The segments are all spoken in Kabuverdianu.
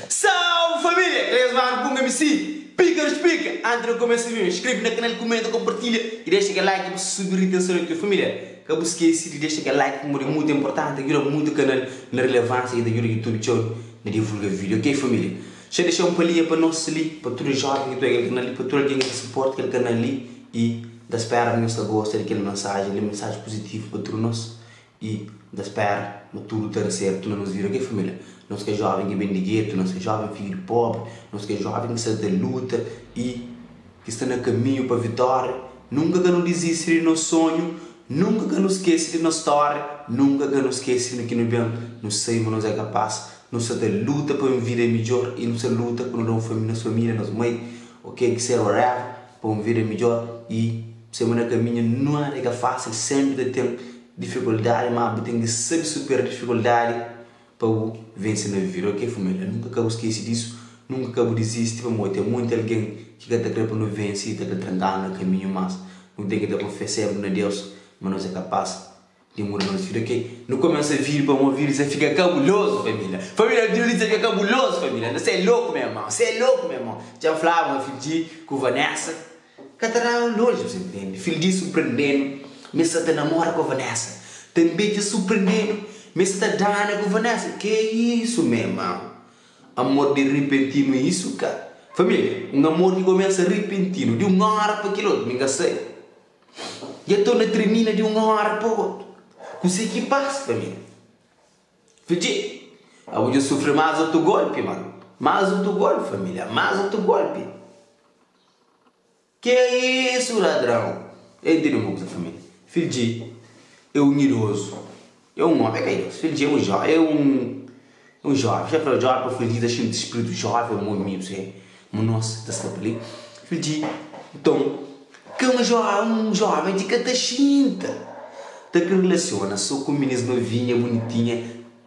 Salve família! Kel es magru ku un mc pika nu spika anti nu kumesa víu. Inskrebe na kanal, kumenta, konpartilha i dexa kel like pa subi ritenson di txeu família. Ka bu skese di dexa kel like pamodi é mutu inportanti, ta djuda mutu kanal na rilevánsia i ta djuda YouTube txeu na divulga vídiu ok família. Xa dexa un palia pa nos li pa tudu joven ki pega el ka na li pa tudu algen ki ta suporta kel ka na li i n ta spera ma nhos ta gosta di kel mensajen li mensajen puzitivu pa tudu nos i n ta spera ma tudu ta da sertu ma nos bira kel familia nos ka joven ki ben di getu nos ka joven fidju di pobri nos ka joven ki sa ta luta i Ki sta na kaminhu pa vitória Nunka ka nu dizisti di nos sonhu Nunka ka nu skese di nos stória Nunka ka nu skese di ki nu ben Nu sabe ma nos é kapás Nu sta ta luta pa un vida midjór I nu sta luta pa nu da un família nos família, nos mai O ke ki ser whatever Pa un vida midjór I bu sabe ma na kaminhu Nada é ka fásil Sénpri ta ten difikuldadi Má bu ten ki sabe supera difikuldadi. Pa bu vense na vivida ok família nunka ka bu skese disu nunka ka bu dizisti pamodi ten monti algen ki ka ta kre pa nu vense i ta ta trankanu na kaminhu mas nu ten ki ta konfia senpri na Deus ma nos é kapas di muda nos vida ok nu kumesa vive pamodi vida sa fika kabulozu família família vida di sa fika kabulozu família nda sa é loku me irmon sa é loku me irmon dja nflaba ma fidji ku Vanessa Ka ta da elójius, intende? Fil di surprende-nu, ma es sa ta namora ku Vanessa. Tanbe dja surprende-nu, ma es ta dana ku Vanessa. Ke isu, me irmau? Amor di ripentinu é isu ka? Família, un amor ki kumesa ripentinu, di un óra pa kel otu, mi ka sai. Dja torna tirmina di un óra pa otu. Kuse ki pasa, família? Fil di, Abo dja sufri más otu golpi, ma. Más otu golpi, família, más otu golpi. Ke isu ladrau? El intende un kuza família. Fil dje é un idozu, é un ómi, el ka idozu, fil dje é un jó, é un é un jóven, xéf da jóven, pa fil dje ta xinti spritu jóven mon mi, bsé, mon nos ta sta pa li. Fil dje, Nton, ke un jó un jóven dje ka ta xinta, ta kre relasiona so ku minins novinha, bunitinha,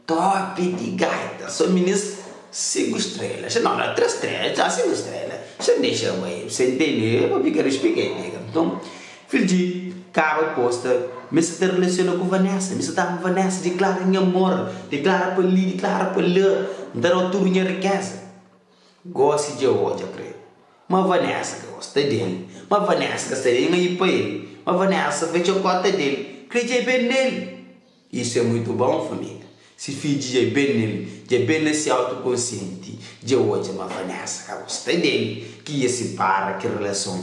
Top di gaita so minis sinku strela xa no tres strela txau sinku strela xa n dexa bai bu sen tene pa pika nu xpika e pika nton filji kaba posta mi sa ta relaciona ku vanessa mi sa ta ama vanessa diklara nha amor diklara pa li diklara pa la n ta dau tudu nha rikeza gosi dja odja kre ma vanessa ka gosta del ma vanessa ka sta di nha pa el ma vanessa fecha porta del kre dja ben del. Isu é muitu bon família. Si fidju dja é ben nel, dja ben na si autokonsienti, dja odja ma Vanessa ka gosta del, ki ia sipara kel relason.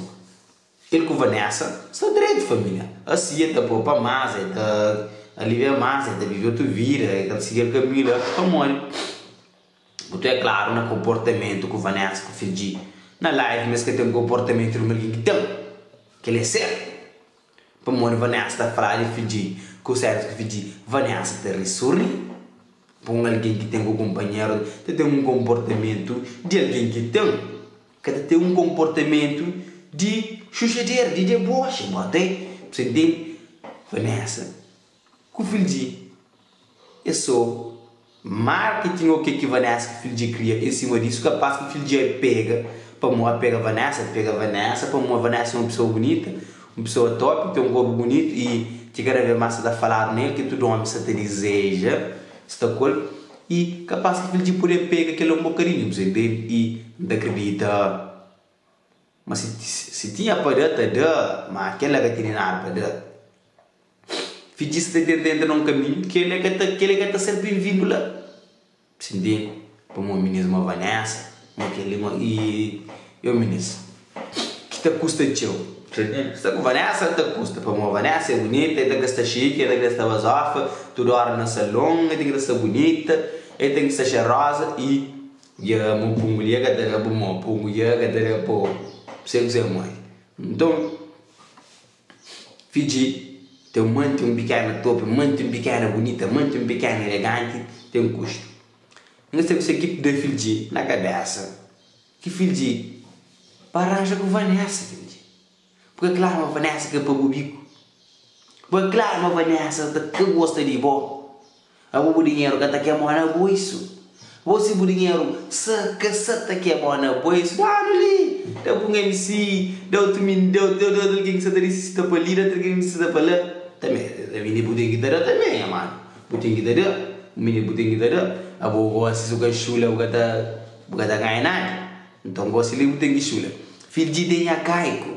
El ku Vanessa sta dretu família. Asi el ta popa más, el ta alivia más, el ta vive otu vida, el ka ta sigi el kaminhu la. Pamodi? Bu ta é klaru na konportamentu ku Vanessa ku Fidji na live ma es ka ten konportamentu di ma algin ki ten. Kel-li é sertu. Pamodi Vanessa ta fla di Fidji ku Sérvius ku Fidji, Vanessa ta ri sorri. Pa un algin ki ten ku kunpanheru ta ten un konportamentu di algin ki ten, ka ta ten un konportamentu di xuxaderu, di deboxi. Bo ta é. Bu sta intende? Vanessa, Ku Filji, é so marketing o ke ki Vanessa ku Filji kria en sima disu? Kapas ki Filji a pega pamo a pega Vanessa, el pega Vanessa pamo Vanessa é un pesoa bunita, un pesoa top, ten un korpu bunitu y ki kada ves mas sa ta faladu nel ki tudu omi sa ta dizeja sta ku el y kapas ki Filji pode a pega kel la un bokadinhu bze del y N ta kridita ma si si tinha pa da ta da ma kel la ka tene nada pa da. Fidjis ta tenta entra na un kaminhu ki el é ka ta ser benvindu la. Sinti pa mon minis, mon Vanessa, mon kel-li, mon. Y io minis, ki ta kusta txeu. Sta ku Vanessa ta kusta, pa mon Vanessa é bunita, el ten ka sta chique, el ten ka sta bazofa, tudu óra na salon, el ten ka sta bunita, el ten ka sta xeroza y dja mon pungu li el ka ta da pa mo, pungu dja el ka ta da pa ôtru, sê ku sê moi. Nton. Fidji, Ten un mante, un pikena tope, un mante, un pikena bunita, mante, un pikena eleganti, ten kustu. N ka sabe se ki pda Fidji na kabesa ki Fidji pa ranja ku Vanessa, Fidji. Bu ka kla ma Vanessa ka pa bu biku? Bu ka kla ma Vanessa ta ka gosta di bo? Abo bu dinheru ka ta kemó na buisu. Bo si bu dinheru sa ka sa ta kemó na buisu, da-nu li, da ku un MC, da otu min, da otu otu algin ki sa ta nisisita pa li, da otu algin ki nisisita pa la. Tanbe, da mi li bu ten ki ta da tanbe, nha manu. Bu ten ki ta da, mi li bu ten ki ta da. Abo gósi si bu ka xula, bu ka ta bu ka ta ganha nada. Nton, gósi li bu ten ki xula. Fidji de nha Kaiku.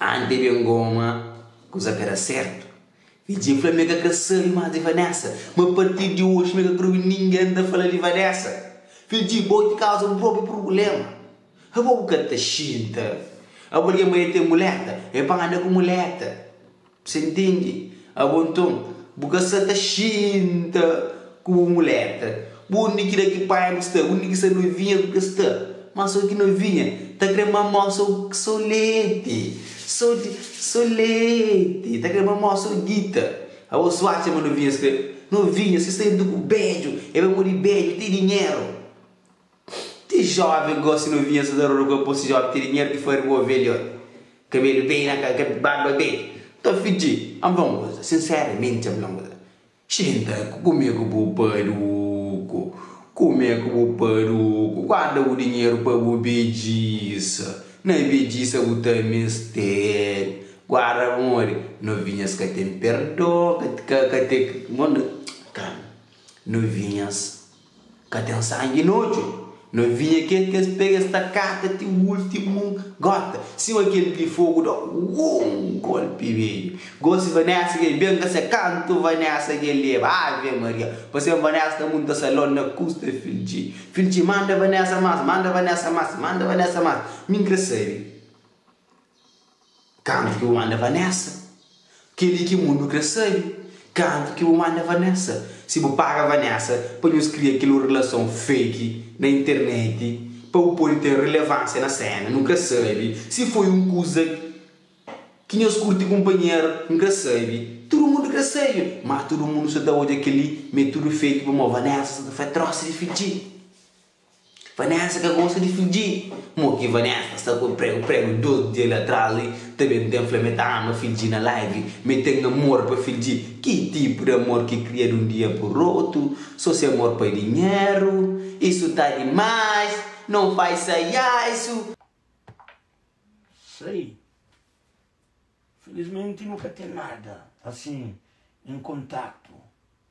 Ante ben goma kuza ka da sertu Virgin fla mi ka kre sabe mas di Vanessa Ma partir di oji mi ka kre obi ningen ta fla di Vanessa Virgin bo ki kauza bu propi purblema Abo bu ka ta xinta Abo algen ma e ten muleta e pa anda ku muleta. Sé ntende? Abo nton, bu ka sa ta xinta ku bu mulher ka. Bu undi ki da ki pai bu sta, undi ki sa novinha bu ka sta. Má so ki novinha ta kre mama-u so, so leti. So, so leti. Ta kre mama-u so gita. Abo so atxa ma novinhas kre. Novinhas, si sta juntu ku bedju, e bai modi bedju, ti dinheru. Ti jovem gosi novinha sa ta roda ku aposi jovem ti dinheru ki fari bo velhot kabelu bem na ka barba bem ta fidji am fla un koza sinceramente am fla un koza xinta kume ku bu paruku kume ku bu paruku guarda bu dinheru pa bu bedjisa na bedjisa bu ta mester guarda pamodi novinhas ka tem perdon ka ka tem mon calma novinhas Ka ten sangi na odju. Na vinha ki es kes pega es ta kata ti ultimu gota. Sima kel di fogu da un golpi bedju. Gosi Vanessa kel ben ka se kantu Vanessa kel leba Ave Maria pa sem Vanessa ta munta salon na kusta Filgi Filgi manda Vanessa mas manda Vanessa mas manda Vanessa mas min kre sabi. Kantu ki bu manda Vanessa? Keli ki mundu kre sabi. Kantu ki bu manda Vanessa? Si bu paga Vanessa pa nhos kria kel relason fake na internet pa bu pode ten relevansia na sena, nu kre sabi. Si foi un kuza ki nhos kurti kunpanheru, nu kre sabi. Tudu mundu kre sabi. Má tudu mundu sa ta odja keli metudu fake pamó Vanessa sa ta fai trosi di fidji. Vanessa ka gosta di fidji. Mo ki Vanessa ta sta ku un pregu pregu dos dia li atras li ta ben ten fla me ta ama fidji na live me ten amor pa fidji ki tipu di amor ki kria di un dia pu rotu so se amor pa dinheru isu ta dimais non fai saiaisu sai felizmenti nu ka ten nada asin en kontaktu.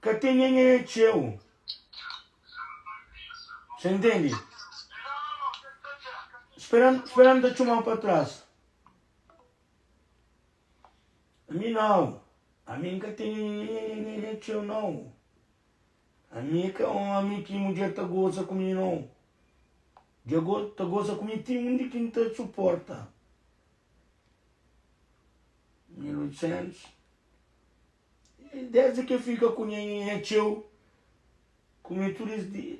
ka ten nhenhenhê txeu. Sta intendi? Spera, spera N ta txuma-u pa tras. Ami nau, ami N ka ten nhenhenhenhenhenhenhê txeu nau. Ami é ka ómi ki mudjer ta goza ku mi nau. Dja go, ta goza ku mi ti undi ki N ta suporta. 1800. Desdi ki el fika ku nha nhanha txeu, ku mi tudu es dia,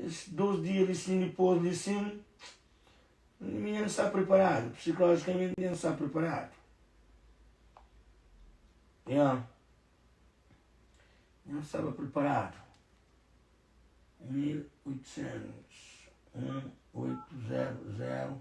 es dôs dia li sin, dipôs li sin, mi nha n sta priparadu, psikolojikamente nha n sta priparadu. Nha nha n staba priparadu. 1800, 1800.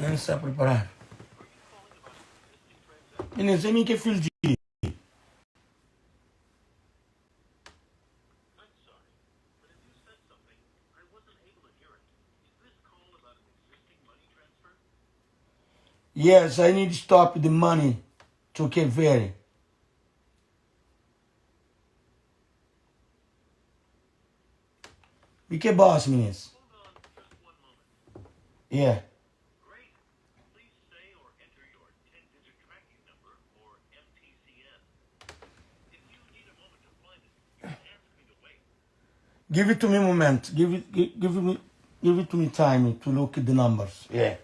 N sta priparadu. I nen se mi ke fil di. Yes, I need to stop the money to Cape Verde. Di ke bos minis? Yeah. Give it to me momento. Give it, gi- give me, give it to me time to look at the numbers. Yeah.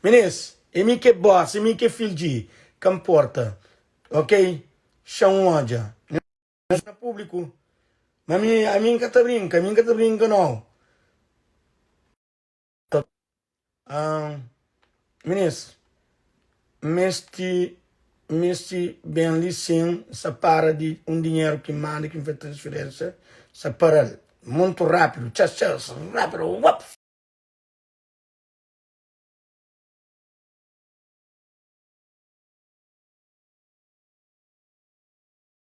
Minis, e mi ke bos, e mi ke filji, ka mporta. Ok? Xa un odja. Mas na públiku Ma ami, ami N ka ta brinka, ami N ka ta brinka nau Ta Ahn Ministru, N meste, N meste ben li sin N sa para di un dinheru ki N manda ki N faze transferênsia N sa para-l muntu rápidu Txas, txas, rápidu Uap!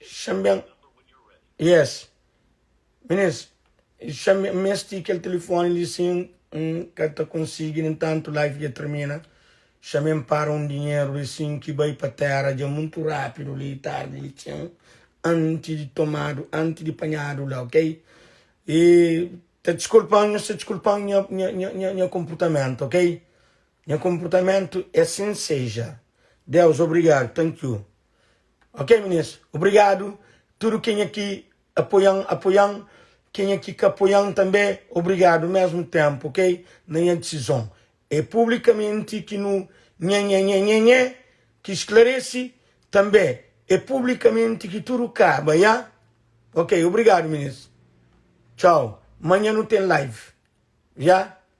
Xan ben. Yes. Minês, xan ben mesti kel telefoni li sin N ka ta konsigi nen tantu live dja termina. Xan ben para un dinheru li sin ki bai pa tera dja muntu rapidu li tardi li txen anti di tomadu anti di panhadu la ok. E ta diskulpan nhos ta diskulpan nha nha nha konportamentu ok. Nha konportamentu e sin seja. Deus obrigadu thank you. Ok meninas obrigado tudo kenha ki apoian apoian kenha ki ka apoian tanbe obrigado mesmo tempo ok na nha decisão é publicamente ki nu nhenhenhenhenhen ki esclarece tanbe é publicamente ki tudo caba ya ok obrigado meninas tchau manha nu tem live ya.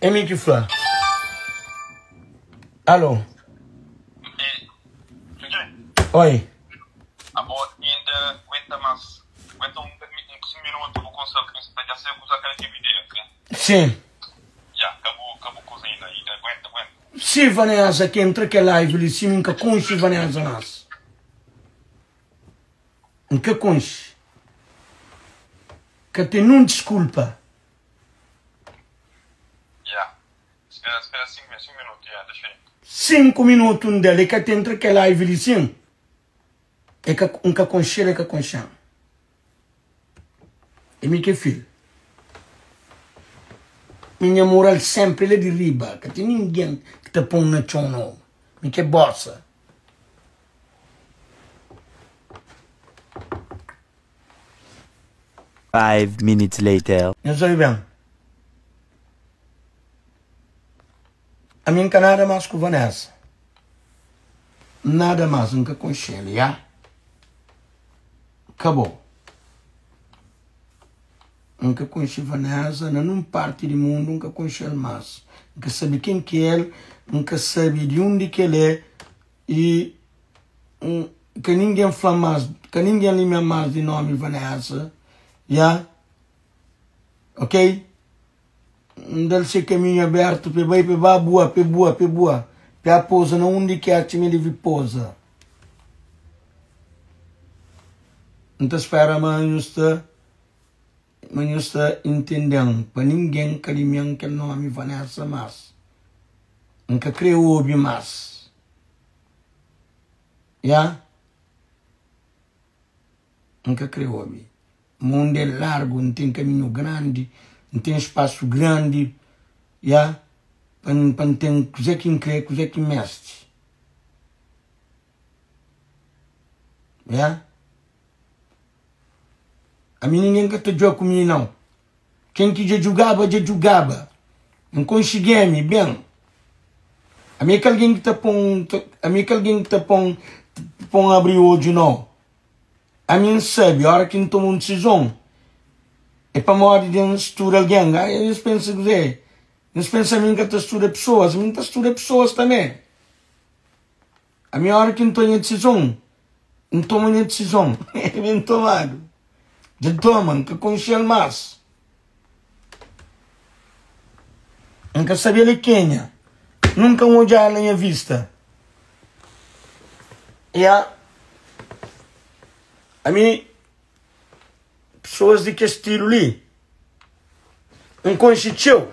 É mi ki fla. Alô? Oi. Sim. Si Vanessa ki entra ke live li si mi ka konxe Vanessa mas. N ka konxe. Ka ten nun diskulpa. Ya. Spera, spera sinku mi, sinku minutu, ya, dexa i. Sinku minutu N da-l, e ka ten tra kel aivi li sin. E ka, N ka konxe-l, e ka konxe-m. E mi ke fil. Mi nha moral senpri la di riba, ka ten ningen ki ta pon na txon no. Mi ke bosa. Five minutes later. Nhos obi ben. Ami n ka nada mas ku Vanessa. Nada mas, n ka konxel, ya. ka bon. N ka konxe Vanesa, na nun parti di mundu N ka konxel mas. N ka sabe ken ki el, N ka sabe di undi ki el é y N ka ningen fla mas, ka ningen limia mas di nomi Vanesa ya ok. N da-l se kaminhu abértu p'e bai, p'e ba bua, p'e bua, p'e bua, p'e apoza na undi ki atxa ma e debe poza. N ta spéra ma nhos ta ma nhos ta intende-m, pa ningen ka dime-m kel nómi Vanessa más. N ka krê obi más. Ya. N ka krê obi. Mundu é largu, n ten kaminhu grandi, n ten spasu grandi, ya, pa n pa n ten kuzé ki n krê, kuzé ki n meste, ya. Ami ningen ka ta djoa ku mi nau, ken ki dja djugaba, dja djugaba, n konxigé-mi ben, ami é ki algen ki ta pon, ami é ki algen ki ta pon, pon abri odju nau, Ami N sabe ora ki N toma un disizon é pamodi di N studa algen. Ka nhos pensa kuzê? Nhos pensa ami N ka ta studa pesoas? Ami N ta studa pesoas tanbê. Ami ora ki N toma nha disizon, N toma nha disizon ben tomadu. Dja toma, N ka konxe-l más. N ka sabe el é kenha Nunka N odja-l na nha vista Ya Ami pesoas di kes stilu li N konxe txeu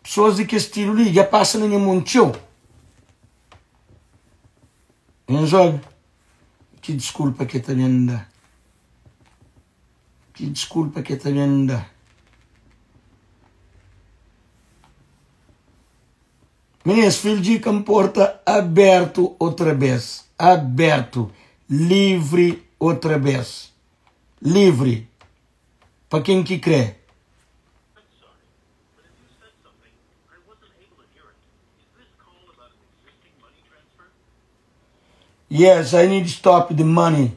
Pesoas di kes stilu li dja pasa na nha mon txeu Nhas ol ki diskulpa ke ta ben da. Ki diskulpa ki e ta ben da? Minins, fil di ka nporta abertu otra bes, abertu, livri otra bes, livri, pa ken ki kre. Yes, I need stop the money.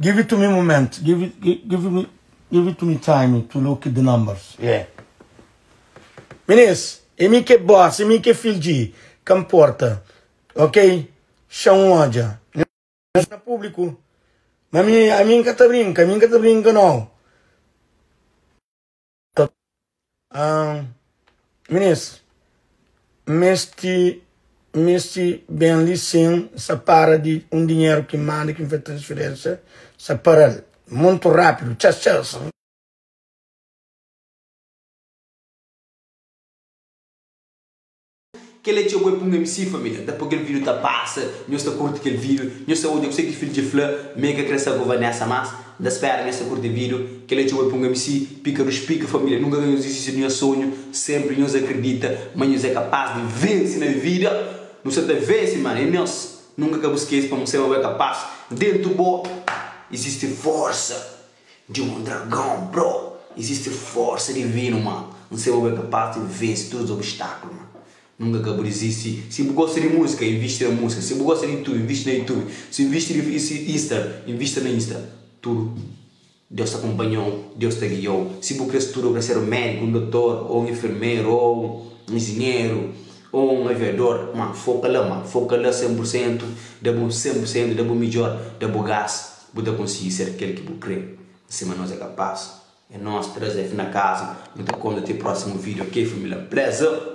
Give it to me momento give it give me give it to me time to look the numbers yeah Minis é mi ki é boss é mi ki é filho di ka nporta ok xa un odja nhos na público ma mi ami nka ta brinka ami nka ta brinka nau. Ta ahn Minis N mesti N mesti ben li sin N sa para di un dinheru ki N manda ki N fai transferensia N sa para l muntu rapidu txas txas. Kel é txeu bo é pa un MC família da pa kel vídeo ta pasa nhos ta kurti kel vídeo nhos ta odja ku se ki fil dje fla me ka kre sa ku vanessa mas nda spera nhos ta kurti vídeo kel é txeu bo é pa un MC pika ru spika família nunka ka nhos disisti di nhos sonhu senpri nhos akridita ma nhos é kapas di vense na vida nu sa ta vense mano é nhos nunka ka bu skese pa mu seba bo é kapas dentu bo izisti forsa. Dja é un dragão bro Existe força divino ma N seba bu é capaz di vence tudo os obstáculos ma Nunca ka bu desisti Si bu gosta di música invisti na música Si bu gosta di YouTube invisti na YouTube Si invisti di Insta invista na Insta Tudo Deus ta acompanhou Deus ta guiou Si bu kre studa bu kre ser un médico un doutor ou un enfermeiro ou un engenheiro ou un aviador ma foca la ma foca la 100% da bu 100% da bu midjor da bu gás. Bu ta konsigi ser kel ki bu kre N sima nos é kapas É nos tres F na kaza Nu ta konta te prosimu video ok família Pleza.